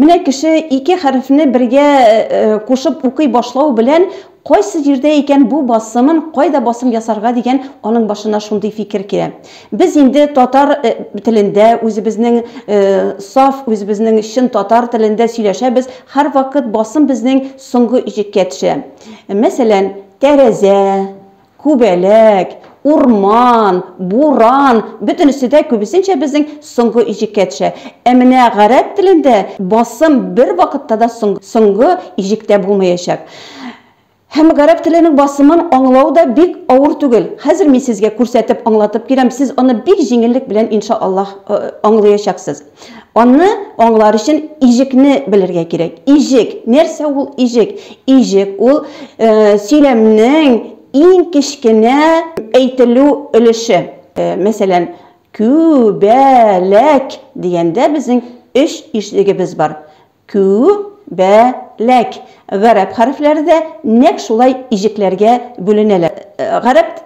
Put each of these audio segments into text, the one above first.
Менә кеше ике хәрефне бергә кушып укый башлау белән, кайсы җирдә икән бу басымын, кайда басым ясарга дигән аның башына шундый фикер килә. Без инде татар телендә, үзебезнең саф, үзебезнең чын татар телендә сөйләшәбез, һәрвакыт басым безнең соңгы иҗеккә төшә. Мәсәлән, тәрәзә, Күбәләк, урман, буран, бөтенесе дә күбесенчә безнең соңгы иҗеккә төшә. Ә менә гарәп телендә басым бервакытта да соңгы иҗектә булмаячак. Һәм гарәп теленең басымын аңлау да бик авыр түгел. Хәзер мин сезгә күрсәтеп, аңлатып бирәм, сез аны бик җиңеллек белән, иншааллаһ, аңлаячаксыз. Аны аңлар өчен иҗекне белергә кирәк. Иҗек, нәрсә ул иҗек? Иҗек ул э, сөйләмнең иң кечкенә әйтелү өлеше. Э, мәсәлән, күбәләк дигәндә безнең өч иҗегебез бар. Кү, бә, ләк. Гарәп хәрефләре дә нәкъ шулай иҗекләргә бүленәләр. Гарәп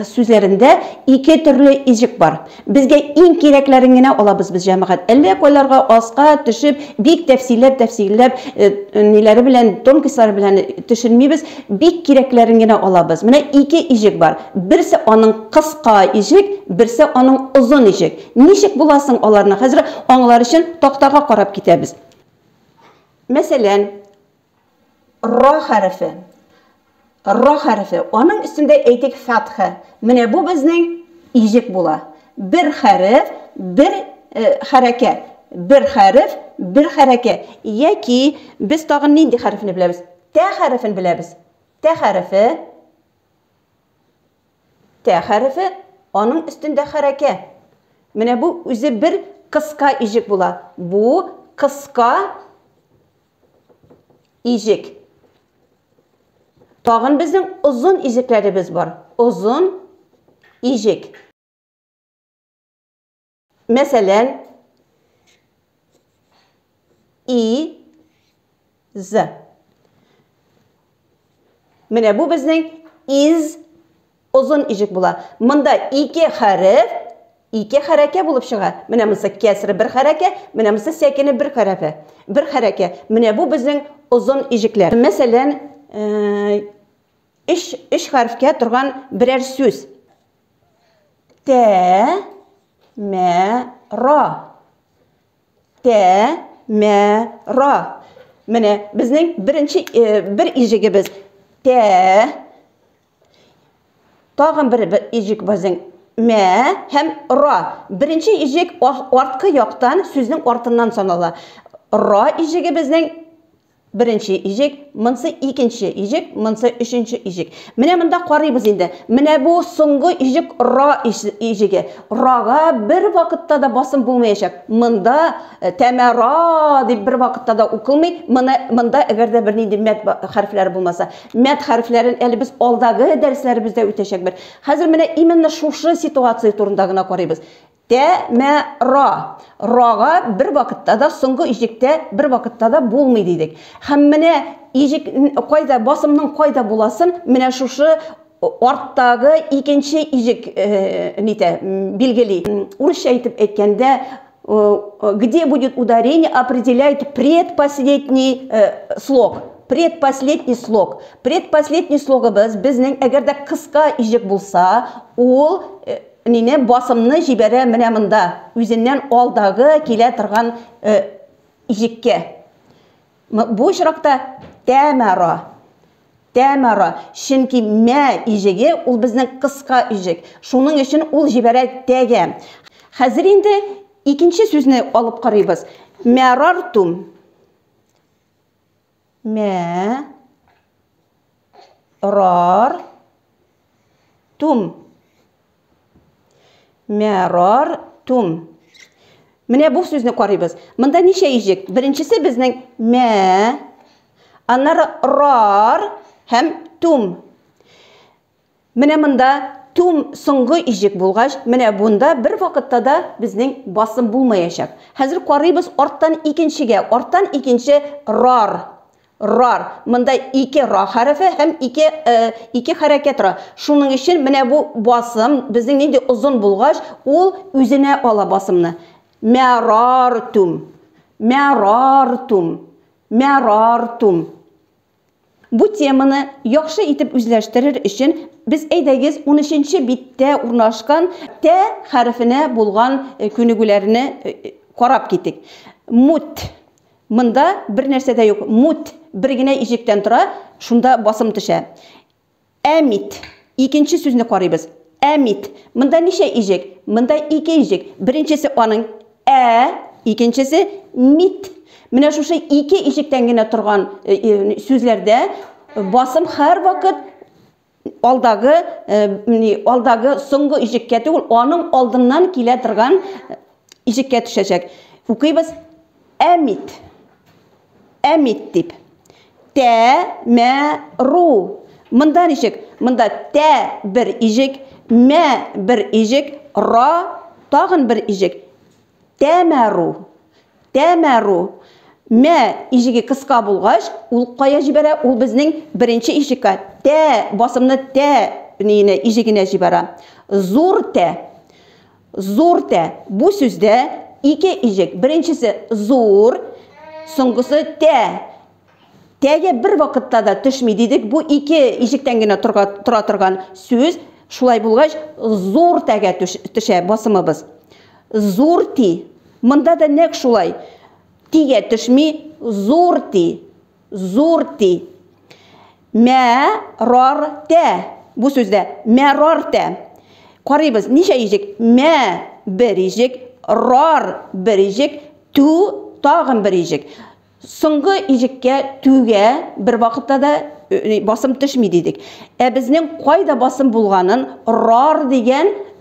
сүзләрендә ике төрле иҗек бар. Безгә иң кирәкләрен генә алабыз без, җәмәгать. Әллә кайларга аска төшеп, бик тәфсилләп-тәфсилләп, ниләре белән, тонкислары белән төшенмибез, бик кирәкләрен генә алабыз. Менә ике иҗек бар. Берсе аның кыска иҗек, берсе аның озын иҗек. Ничек була соң аларны? Хәзер аңлар өчен тактага карап китәбез. Мәсәлән, ра хәрефе. Ра хәрефе. Аның өстендә әйтик фәтха. Менә бу безнең иҗек була. Бер хәреф, бер э, хәрәкәт. Бер хәреф, бер хәрәкәт. Яки без тагын нинди хәрефне беләбез? Тә хәрефен беләбез. Тә хәрефе. Тә хәрефе, аның өстендә хәрәкә. Менә бу үзе бер кыска иҗек була. Бу кыска иҗек. Тагын безнең озын иҗекләребез бар. Озын иҗек. Мәсәлән, и з. Менә бу безнең из озын ижек була. Монда ике хәреф, ике хәрәкә булып чыга. Менә монысы кәсре бер хәрәкә, менә монысы сәкене бер хәрәфе. Бер хәрәкә. Менә бу безнең озын ижекләр. Мәсәлән, э, өч, өч хәрефкә торган берәр сүз. Тәмәра. Тәмәра. Менә безнең беренче бер иҗегебез. Тә. Тагын бер иҗек безнең. Мә һәм ра. Беренче иҗек арткы яктан сүзнең артыннан санала. Ра иҗеге безнең Беренче иҗек, монсы икенче иҗек, монсы өченче иҗек. Менә монда карыйбыз инде. Менә бу соңгы иҗек ра иҗеге. Рага бер вакытта да басым булмаячак. Монда э, тәмә ра дип бер вакытта да укылмый. Моны монда әгәр дә бернинди мәд хәрефләре булмаса. Мәд хәрефләрен әле без алдагы дәресләребездә үтәчәкбез. Хәзер менә именно шушы ситуация турында гына карыйбыз. Тә, мә, ра. Рага бер вакытта да, соңгы иҗектә бер вакытта да булмый дидек. Һәм менә иҗек кайда, басымның кайда буласын менә шушы арттагы икенче иҗек нитә, билгели. Урысча итеп әйткәндә, где будет ударение, определяет предпоследний слог. Предпоследний слог. Предпоследний слогыбыз безнең, әгәр дә кыска иҗек булса, ул Минем басымны җибәрә менә монда, үзеннән алдагы килә торган җеккә. Бу очракта Тәмара. Тәмара. Чөнки мә иҗеге ул безнең кыска иҗек. Шуның өчен ул җибәрә тәгә. Хәзер инде икенче сүзне алып карыйбыз. Мәрартум. Мә, рар, тум. Мә, рар, тум. Менә бу сүзне карыйбыз. Монда ничә ижек? Беренчесе безнең мә, аннары рар һәм тум. Менә монда тум соңгы иҗек булгач, менә бунда бер вакытта да безнең басым булмаячак. Хәзер карыйбыз арттан икенчегә, арттан икенче рар, рар. Монда ике ра хәрефе һәм ике, э, ике хәрәкәт тора. Шуның өчен менә бу басым безнең нинди озын булгач, ул үзенә ала басымны. Мәрартум, мәрартум, мәрартум. Бу теманы яхшы итеп үзләштерер өчен без әйдәгез унөченче биттә урнашкан тә хәрефенә булган күнегүләрне карап китик. Мут. Монда бер нәрсә дә юк. Мут бер генә иҗектән тора, шунда басым төшә. Әмит. Икенче сүзне карыйбыз. Әмит. Монда ничә иҗек? Монда ике иҗек. Беренчесе аның ә, икенчесе мит. Менә шушы ике иҗектән генә торган сүзләрдә басым һәрвакыт алдагы алдагы соңгы иҗеккә түгел, аның алдыннан килә торган иҗеккә төшәчәк. Укыйбыз. Әмит. Әмит дип. Тә, мә, ру. Монда ничек? Монда тә, бер иҗек, мә, бер иҗек, ра, тагын бер иҗек. Тәмәру. Тәмәру. Мә иҗеге кыска булгач, ул кая җибәрә? Ул безнең беренче иҗеккә, тә басымны тә иҗегенә җибәрә. Зур тә. Зур тә. Бу сүздә ике иҗек. Беренчесе зур, соңгысы тә. Тәгә бер вакытта да төшми дидек. Бу ике иҗектән генә тора торган сүз. Шулай булгач, зур тәгә төшә басымыбыз. Зур ти. Монда да нәкъ шулай. Тигә төшми, зур ти. Зурти. Мә рар тә. Бу сүздә мә рар тә. Карыйбыз, ничә иҗек? Мә бер иҗек, рар бер иҗек, ту тагын бер иҗек. Соңгы иҗеккә түгә бер вакытта да басым төшми дидек. Ә безнең кайда басым булганын рар дигән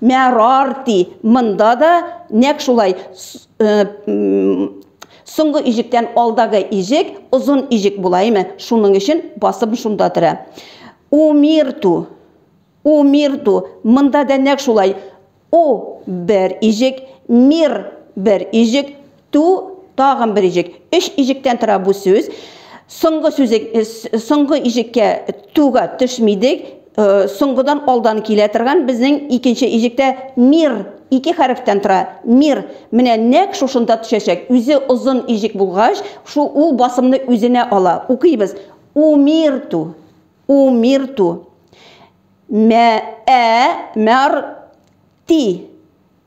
Мәрарти, монда да нәкъ шулай, соңгы иҗектән алдагы иҗек озын иҗек була име, шуның өчен басым шунда тора. Умирту, умирту, монда да нәкъ шулай, у, бер иҗек, мир, бер иҗек, Ту, тагын бер иҗек. Өч иҗектән тора бу сүз. Соңгы сүзек, соңгы иҗеккә туга төшмидек. Соңгыдан алдан килә торган безнең икенче иҗектә мир ике хәрефтән тора. Мир. Менә нәк шушында төшәчәк. Үзе озын иҗек булгач, шу ул басымны үзенә ала. Укыйбыз. Умирту. Умирту. Мә, ә, мәр, ти.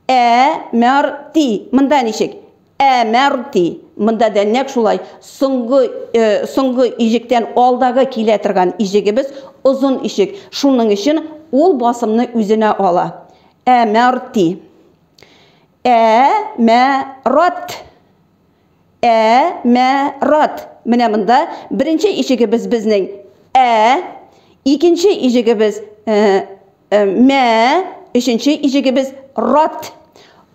Ә, мәр, ти. Монда ничек? Ә, мәр, ти. Монда да нәкъ шулай. Соңгы, э, соңгы иҗектән алдагы килә торган иҗегебез озын ишек. Шуның өчен ул басымны үзенә ала. Ә, мәр, ти. Ә, мә, рат. Ә, мә, рат. Менә монда беренче ишегебез безнең Ә, икенче ишегебез, э, Э, мә, өченче иҗегебез рат.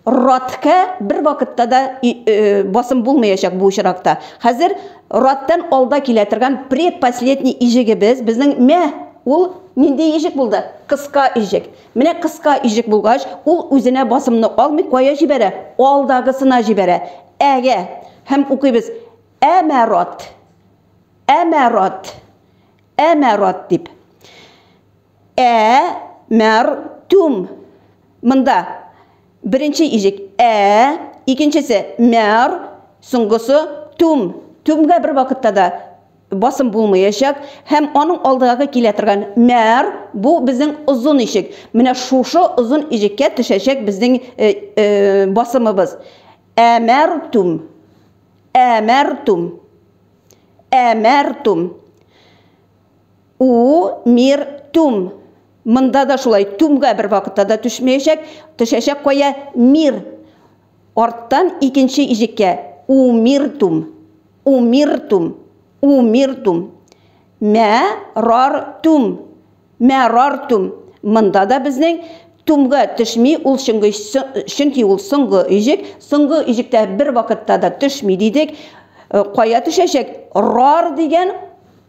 Раткә бер вакытта да э, басым булмаячак бу очракта. Хәзер раттан алда килә торган предпоследний иҗегебез безнең мә ул нинди иҗек булды? Кыска иҗек. Менә кыска иҗек булгач, ул үзенә басымны алмый кая җибәрә? Алдагысына җибәрә. Әгә һәм укыйбыз. Әмәрат. Әмәрат. Әмәрат дип. Ә мәр түм. Монда беренче иҗек ә, икенчесе мәр, соңгысы түм. Түмгә бер вакытта да басым булмаячак һәм аның алдыгагы килә торган мәр бу безнең озын ишек. Менә шушы озын иҗеккә төшәчәк безнең басымыбыз. Ә мәр түм. Ә мәр түм. Ә мәр түм. У, мир, түм. Монда да шулай, түмгә бервакытта да төшмәячәк, төшәчәк кая, мир. Арттан икенче иҗеккә, у, мир, түм. У, мир, түм. У, мир, түм. Мә, рар, түм. Мә, рар, түм. Монда да безнең түмгә төшми ул чөнге, чөнки ул соңгы иҗек, соңгы иҗектә бервакытта да төшми дидек. Кая төшәчәк? Рар дигән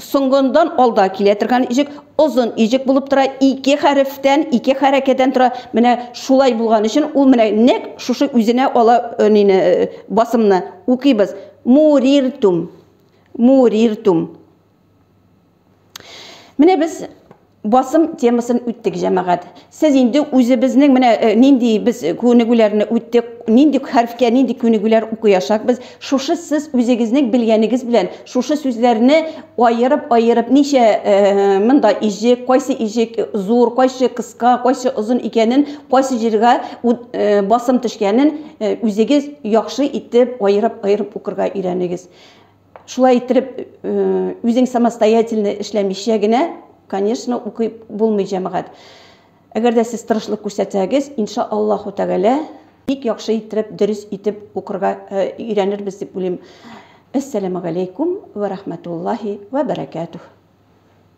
Соңгындан алда килә торган иҗек озын иҗек булып тора, ике хәрефтән, ике хәрәкәдән тора. Менә шулай булган өчен ул менә нәк шушы үзенә ала э, нине, э, басымны. Укыйбыз. Муриртум. Муриртум. Менә без Басым темасын үттек, җәмәгать. Сез инде үзебезнең менә нинди без күнегүләрне үттек, нинди хәрфкә нинди күнегүләр укыячакбыз, шушы сез үзегезнең белгәнегез белән шушы сүзләрне аерып-аерып, ничә монда иҗек, кайсы иҗек зур, кайсы кыска, кайсы озын икәнен, кайсы җиргә басым төшкәнен үзегез яхшы итеп аерып-аерып укырга өйрәнегез. Шулай иттереп, үзең самостоятельно эшләмичә генә, конечно, укый булмый, җәмәгать. Әгәр дә сез тырышлык күрсәтсәгез, инша Аллаһу тәгалә, бик яхшы иттереп, дөрес итеп укырга өйрәнербез дип уйлыйм. Әссәләмүгаләйкүм вә рәхмәтуллаһи вә бәрәкәтүһ.